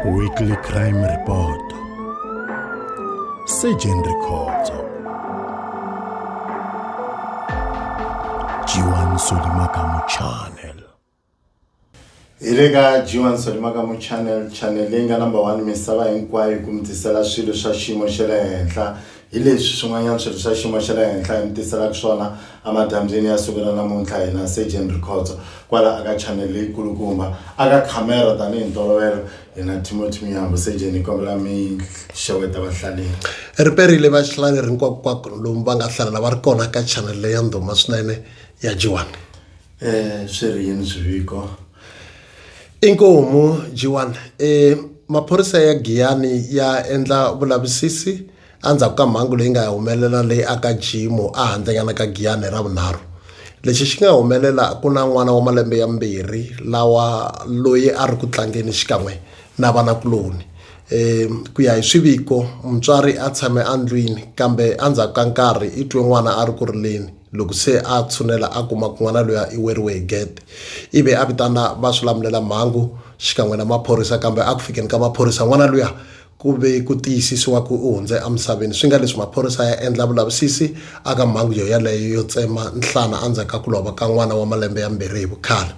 Weekly Crime Report Surgeon Rikhotso Jiwan Solimakamu Channel hi le ka jiwan solimakamu channel channel leyi nga number one misava hinkwayo ku mi tisela swilo swa xiyimo xa le henhla Hi leswi swin'wanyana swirho swa xiyimo xa le henhla hi mi tiselaka swona amadambyeni ya siku ra namuntlha hina Surgeon Rikhotso kwala aka chanel leyi kulukumba aka khamera tanihi ntolovelo hina Timothy Miyambo Surgeon hi kombela mi xeweta vahlaleri. Ri perile vahlaleri hinkwakunkwaku lomu va nga hlalela va ri kona ka chanel leyi ya ndhuma swinene ya Dyiwani. Eh swi ri yini swiviko? Inkomu G1, Maphorisa ya Giyani ya endla vulavisisi endzhaku ka mhangu leyi nga humelela le a ka Jimo a handlenyana ka Giyani hi Ravunharhu. Lexi xi nga humelela ku na n'wana wa malembe ya mbirhi lawa loyi a ri ku tlangeni xikan'we na vanakuloni. Ku ya hi swiviko mutswari a tshame endlwini kambe endzhaku ka nkarhi i twe n'wana a ri ku rileni. Loko se a tshunela a kuma ku n'wana luya i weriwe hi gede ivi a vitana va swi lamulela mhangu xikan'we na maphorisa kambe a ku fikeni ka maphorisa n'wana luya ku ve ku tiyisisiwa ku u hundze emisaveni swi nga leswi maphorisa ya endla vulavisisi aka mhangu yo yaleyo yo tsema nhlana endzhaku ka ku lova ka n'wana wa malembe yambirhi hi vukhale.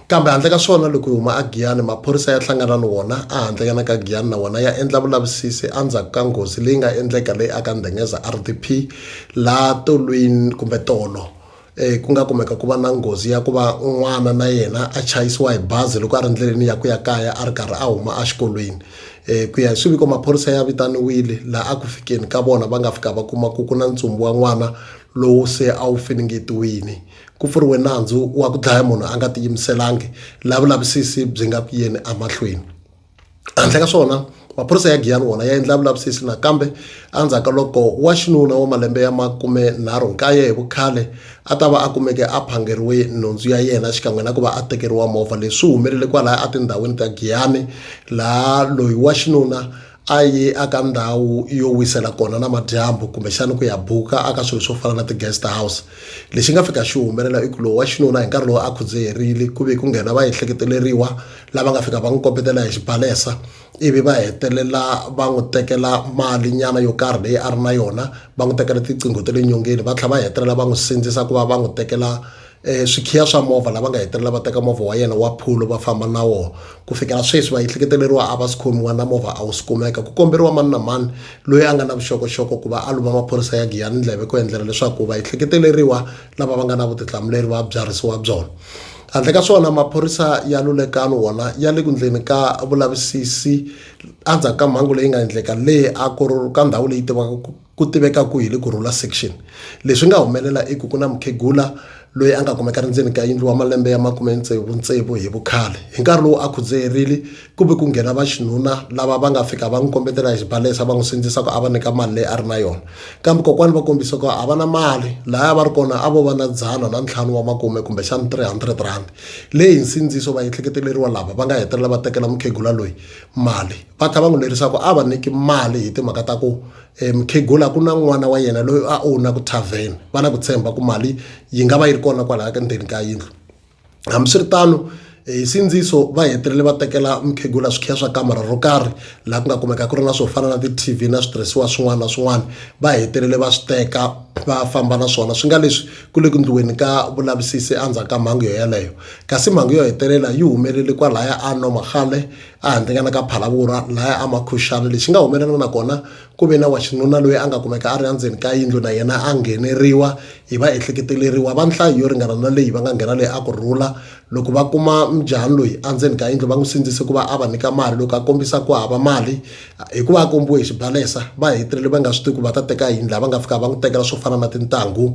Kambe handle ka swona, loko hi huma eGiyani, maphorisa ya hlangana ni wona ehandlenyana ka Giyani na wona ya endla vulavisisi endzhaku ka nghozi leyi nga endleka le aka Ndengeza RDP laha tolwini kumbe tolo eh, ku nga kumeka ku va na nghozi ya ku va n'wana na yena a chayisiwa hi bazi loko a ri ndleleni ya ku ya kaya a ri karhi a huma exikolweni eh, ku ya hi swiviko maphorisa ya vitaniwile laha a ku fikeni ka vona va nga fika va kuma ku ku na ntsumbu wa n'wana lowu se a wu finingetiwini Ku pfuriwe nandzu wa ku dlaya munhu a nga tiyimiselangi la vulavisisi byi nga ku yeni emahlweni. Handle ka swona, maphorisa ya Giyani wona ya endla vulavisisi nakambe endzhaku ka loko wa xinuna wa malembe ya makume nharhu nkaye hi vukhale a ta va a kumeke a phangeriwe nhundzu ya yena xikan'we na ku va a tekeriwa movha. Leswi humelele kwalaya etindhawini ta Giyani laha loyi wa xinuna a ye aka ndhawu yo wisela kona na madyambu kumbexana ku ya buka aka swilo swo fana na ti-guest house lexi nga fika xi humelela i ku lowu wa xinuna hi nkarhi lowu a khudzeherile ku ve ku nghena va ehleketeleriwa lava nga fika va n'wi kombetela hi xibalesa ivi va hetelela va n'wi tekela mali nyana yo karhi leyi a ri na yona va n'wi tekela tiqingho ta le nyongeni va tlhela va hetelela va n'wi sindzisa ku va va n'wi tekela um swikhiya swa movha lava nga hetelela va teka movha wa yena wa phulo va famba na wona ku fikela sweswi va ehleketeleriwa a va swi khomiwa na movha a wu swi kumeka ku komberiwa mani na mani loyi a nga na vuxokoxoko ku va a luma maphorisa ya giyani ndleve ku endlela leswaku va ehleketeleriwa lava va nga na vutihlamuleri va byarhisiwa byona handle ka swona maphorisa ya lulekano wona ya le ku ndleni ka vulavisisi endzhaku ka mhangu leyi nga endleka leyi a ku ka ndhawu leyi tivaka Ku tiveka kwihi le ku rhula section? Leswi nga humelela i ku ku na mukhegula loyi a nga kumeka ri ndzeni ka yindlu wa malembe ya makume tsevu-tsevu hi vukhale. Hi nkarhi lowu a khudzeherile, ku ve ku nghena vaxinuna lava va nga fika va n'wi kombetela hi xibalesa va n'wi sindzisa ku a va nyika mali leyi a ri na yona. Kambe kokwani va kombise ku a va na mali, lahaya va ri kona a vo va na dzana na ntlhanu wa makume kumbexana 300 rhandi leyi hi nsindziso vaehleketeleriwa lava va nga hetelela va tekela mukhegula loyi mali. va kha va n'wi lerisaka a va nyiki mali hi timhaka ta ku um mukhegula ku na n'wana wa yena loyi a owna ku tavern va na ku tshemba ku mali yi nga va yi ri kona kwalaha ka ndzeni ka yindlu hambiswiritano eh, hi sindziso va hetelele va tekela mukhegula swikhiya swa kamara ro karhi laha ku nga kumeka ku ri na swo fana na ti-tv na switirhisiwa swin'wana na swin'wana va hetelele va swi teka va famba na swona swi nga leswi ku le ku ndliweni ka vulavisisi endzhaku ka mhangu yo yeleyo kasi mhangu yo hetelela yi humelele kwalaya a nomagale a handzingana ka phalavurha laya amakhuxana lexi nga humelela na kona ku ve na wa xinuna loyi a nga kumeka a ri endzeni ka yindlu na yena a ngheneriwa hi va ehleketeleriwa va nhlayo yo ringana na leyi va nga nghena leyi a ku rhula loko va kuma mjhani loyi endzeni ka yindlu va n'wi sindzise ku va a va nyika mali loko a kombisa ku hava mali hikuva a kombiwe hi xibalesa va hetelele va nga swi tivi ku va ta teka yini laha va nga fika va n'wi tekela swo fana na tintangu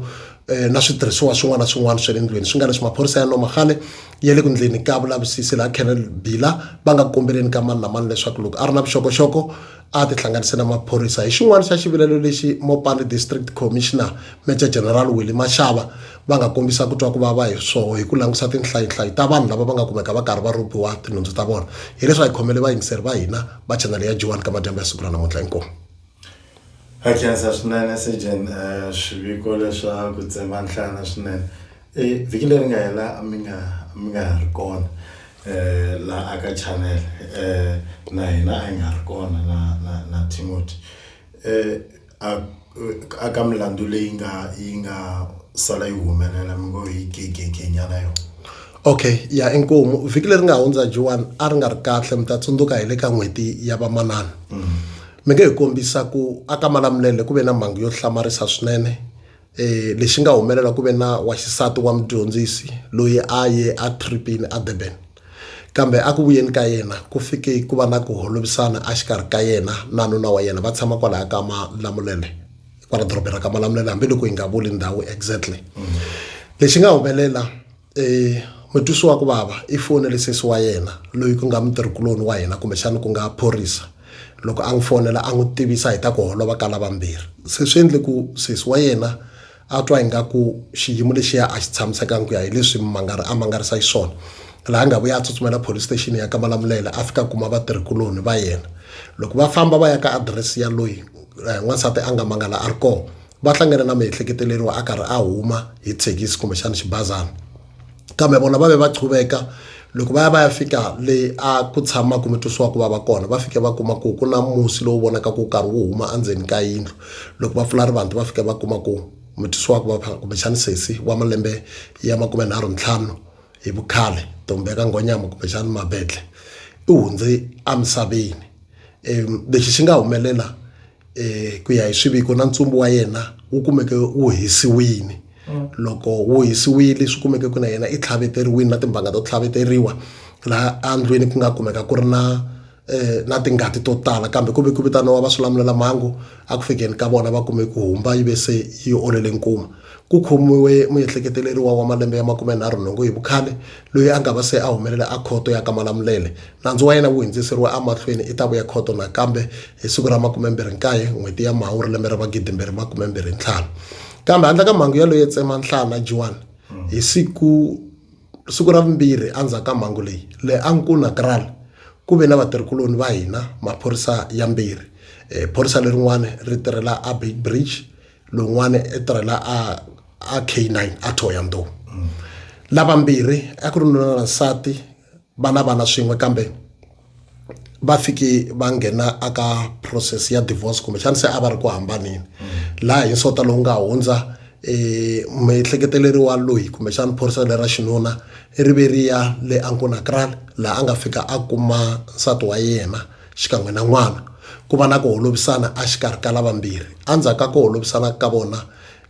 eh, na switirhisiwa swin'wana na swin'wana swa le ndlwini swi nga leswi maphorisa ya noma khale ya le ku ndleni ka vulavisisi laha Colonel Bila va nga kombeleni ka mani na mani leswaku loko a ri na vuxokoxoko a tihlanganise na maphorisa hi xin'wana xa xivilelo lexi Mopani District Commissioner Major General Willie Mashava va nga kombisa ku twa ku vava hi swoho hi ku langusa tinhlayinhlayi ta vanhu lava va nga kumeka va karhi va rhobiwa tinhundzu ta vona hi leswi a hi khomele vayingiseri va hina va chanele ya G1 ka madyambu ya siku ra namuntlha inkomu Hi khensa swinene Sergeant eh, swiviko leswa ku tsemba nhlana swinene E vhiki leri nga hela a mi nga a mi nga ha ri kona eh la aka channel eh na hina a hi nga ri kona na na na Timothy eh a a ka milandzu leyi nga yi nga sala yi humelela mi ngo hi gegege nyana yona. Okay ya inkomu vhiki leri nga hundza Joan a ri nga ri kahle mi ta tsundzuka hi le ka n'hweti ya vamanana mi nge hi kombisa ku a ka Malamulele ku ve na mhangu yo hlamarisa swinene lexi nga humelela ku ve na wa xisati wa mudyondzisi loyi a ye a tripini a Durban kambe a ku vuyeni ka yena ku fike ku va na ku holovisana a xikarhi ka yena na nuna wa yena va tshama kwalaya ka malamulele kwala dorobeni ra ka malamulele hambiloko hi nga vuli ndhawu exactly lexi nga humelela e mutwisi wa ku vava i fonele sesi wa yena loyi ku nga mutirhikuloni wa hina kumbexana ku nga phorisa loko a n'wi fonela a n'wi tivisa hi ta ku holova ka lavambirhi se swi endle ku sesi wa yena a twa ingaku xiyimo lexiya a xi tshamisekangi ku ya hi leswi mangari a mangarisa xiswona laha a nga vuya a tsutsumela police station ya ka malamulele a fika kuma vatirhikuloni va yena loko va famba va ya ka adirese ya loyi n'wansati a nga mangala a ri kona va hlangana na miehleketeleriwa a karhi a huma hi thekisi kumbexana xibazana kambe vona va ve va chuveka loko va ya va ya fika le a ku tshama kumbe twisiwa ku va va kona va fike va kuma ku ku na musi lowu vonaka ku karhi wu huma endzeni ka yindlu loko va pfula rivanti va fike va kuma ku mutwisiwa ku va kumbexana sesi wa malembe ya makume nharhu ntlhanu hi vukhale ntombi ya ka nghonyama kumbexana mabedle u hundze emisaveni um lexi xi nga humelela hi ku ya hi swiviko na ntsumbu wa yena wu kumeke wu hisiwile mm. loko wu hisiwile swi kumeke ku na yena i tlhaveteriwile na timbanga to tlhaveteriwa laha endlwini ku nga kumeka ku ri na eh, na tingati to tala kambe ku ve ku vitaniwa va swilamulela mhangu a ku fikeni ka vona va kume ku humba yi ve se yi olele nkuma ku khomiwe muehleketeleriwa wa malembe ya makumenharhu nhungu hi vukhale loyi a nga va se a humelela a khoto ya ka malamulele Nandzu wa yena wu hindziseriwe emahlweni i ta vuya khoto nakambe hi siku ra 29 n'hweti ya Mhawuri lembe ra 2025. Kambe handle ka mhangu ya loyo tsema nhlana Juan hi siku siku ra vumbirhi endzhaku ka mhangu leyi, le Ancuna Kraal ku ve na vatirhikuloni va hina, maphorisa yambirhi. Phorisa lerin'wana ri tirhela eBeitbridge, lowun'wana u tirhela eK9 eThohoyandou. Lavambirhi a ku ri nuna na nsati. va na vana swin'we kambe va fike va nghena aka process ya divorce kumbexana se a va ri ku hambaneni laha hi nsota lowu nga hundza um muehleketeleri wa loyi kumbexana phorisa lera xinuna ri ve ri ya le ankonakral laha a nga fika a kuma nsati wa yena xikan'we na n'wana ku va na ku holovisana a xikarhi ka lavambirhi endzhaku ka ku holovisana ka vona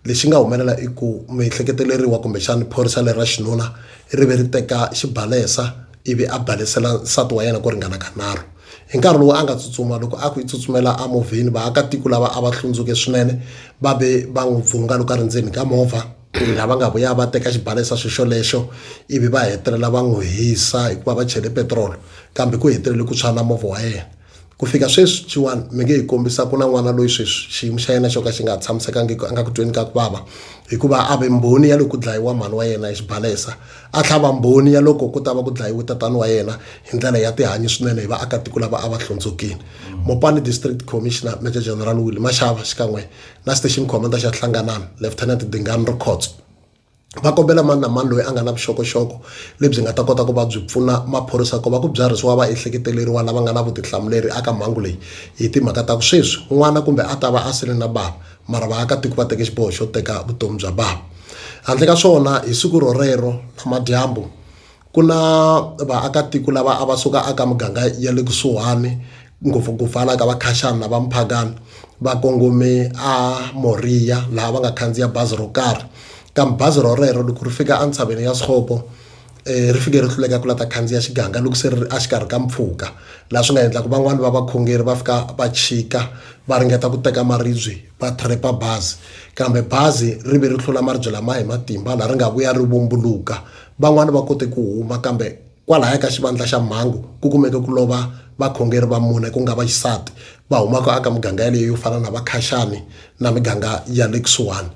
lexi nga humelela i ku miehleketeleriwa kumbexana phorisa leri ra xinuna ri ve ri teka xibalesa ivi a balesela nsati wa yena ku ringana ka nharhu hi nkarhi lowu a nga tsutsuma loko a ku i tsutsumela a movheni vaakatiko lava a va hlundzuke swinene va ve va n'wi pfuna loko a ri ndzeni ka movha lava nga vuya va teka xibalesa xi xolexo ivi va hetelela va n'wi hisa hikuva va chele petirolo kambe ku hetelele ku tshwa na movha wa yena ku fika sweswi chiwani mi nge hi kombisa ku na n'wana loyi sweswi xiyimo xa yena xo ka xi nga ha tshamisekangiki a nga ku tweni ka ku vava hikuva a ve mbhoni ya loko ku dlayiwa mhani wa yena hi xibalesa a tlhava mbhoni ya loko ku ta va ku dlayiwe tatani wa yena hi ndlela ya tihanyi swinene hi vaakatiko lava a va hlundzukile mopani district commissioner major general will mashava xikan'we na station commander xa hlanganani lieutenant dingani rikhotso va kombela mani na mani loyi a nga na vuxokoxoko lebyi nga ta kota ku va byi pfuna maphorisa ku va ku byarhisiwa vaehleketeleriwa lava nga na vutihlamuleri aka mhangu leyi hi timhaka ta ku sweswi n'wana kumbe a ta va a sele na bava mara vaakatiko va teke xiboho xo teka vutomi bya bava handle ka swona hi siku rorero namadyambu ku na vaakatiko lava a va suka aka muganga ya le kusuhani ngopfungopfu hala ka vakhashani na va muphakani va kongome a Moriya laha va nga khandziya bazi ro karhi kambe bazi ro rero loko ri fika entshaveni ya Sixhopo ri fike ri hluleka ku la ta khandziya xiganga loko se ri ri exikarhi ka mpfhuka laha swi nga endla ku van'wani va vakhongeri va fika va chika va ringeta ku teka maribye va trap-a bazi kambe bazi ri ve ri tlula maribye lama hi matimba laha ri nga vuya ri vumbuluka Van'wana va kote ku huma, kambe kwalahaya ka xivandla xa mhangu ku kumeke ku lova vakhongeri va mune, ku nga va xisati, va humaka aka miganga yaleyo yo fana na va Khashani na miganga ya le kusuhani.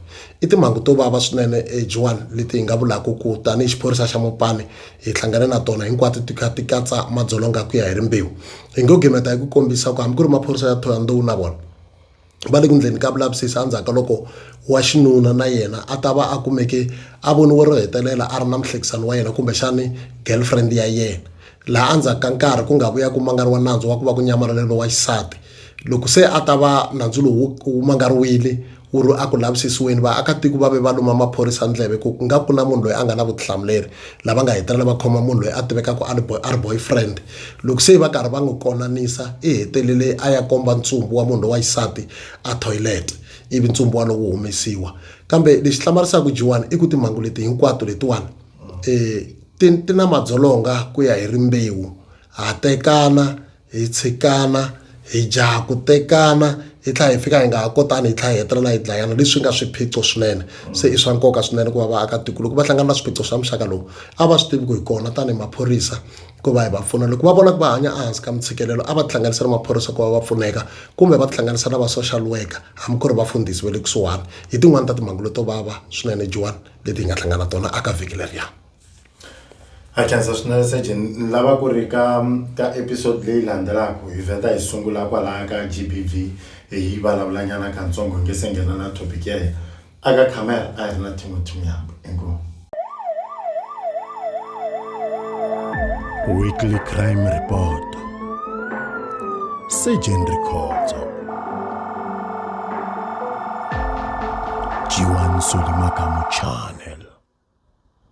I timhangu to vava swinene Joan leti hi nga vulaka ku tanihi xiphorisa xa Mopani hi hlangane na tona, hinkwato ti kha ti katsa madzolonga ku ya hi rimbewu. Hi ngo gimeta hi ku kombisa ku hambi ku ri maphorisa ya Thohoyandou na vona, va le ku endleni ka vulavisisi endzhaku ka loko wa xinuna na yena a ta va a kumeke a voniwe ro hetelela a ri na muhlekisani wa yena kumbexani girlfriend ya yena laha endzhaku ka nkarhi ku nga vuya ku mangariwa nandzu wa ku va ku nyamalale lowa xisati loko se a ta va nandzu lowu wu mangariwile wu ri a ku lavisisiweni vaakatiko va ve va luma maphorisa ndleve ku nga ku na munhu loyi a nga na vutihlamuleri. lava nga hetelela va khoma munhu loyi a tivekaka a a ri boyfriend loko se va karhi va n'wi konanisa i hetelele a ya komba ntsumbu wa munhu lowa xisati a toilet ivi ntsumbu wa lowu humesiwa kambe lexi hlamarisaka jiwani i ku timhangu leti hinkwato letiwani um ti ti na madzolonga ku ya hi rimbewu ha tekana. hi tshikana hi jaha ku tekana hi tlhela hi fika hi nga ha kotani hi tlhela hi hetelela hi dlayana leswi nga swiphiqo swinene se i swa nkoka swinene ku va vaakatiko loko va hlangana na swiphiqo swa muxaka lowu a va swi tivi ku hi kona tanihi maphorisa ku va hi va pfuna loko va vona ku va hanya ehansi ka mintshikelelo a va tihlanganisa na maphorisa ku va va pfuneka kumbe va tihlanganisa na va social worker hambi ku ri vafundhisi va le kusuhani hi tin'wani ta timhangu leto vava swinene jiwani leti hi nga hlangana tona aka vhiki leriya Akhensa swinene Surgeon ni lava ku ri ka ka episode leyi landzelaka hi vheta hi sungula kwalaya ka GBV hi yi vulavula nyana katsongo hi nge se nghena na topic ya hina a ka camera a hi ri na Timothy Muyambo inkomu Weekly Crime Report Surgeon Rikhotso Jiwan Solimakamu Channel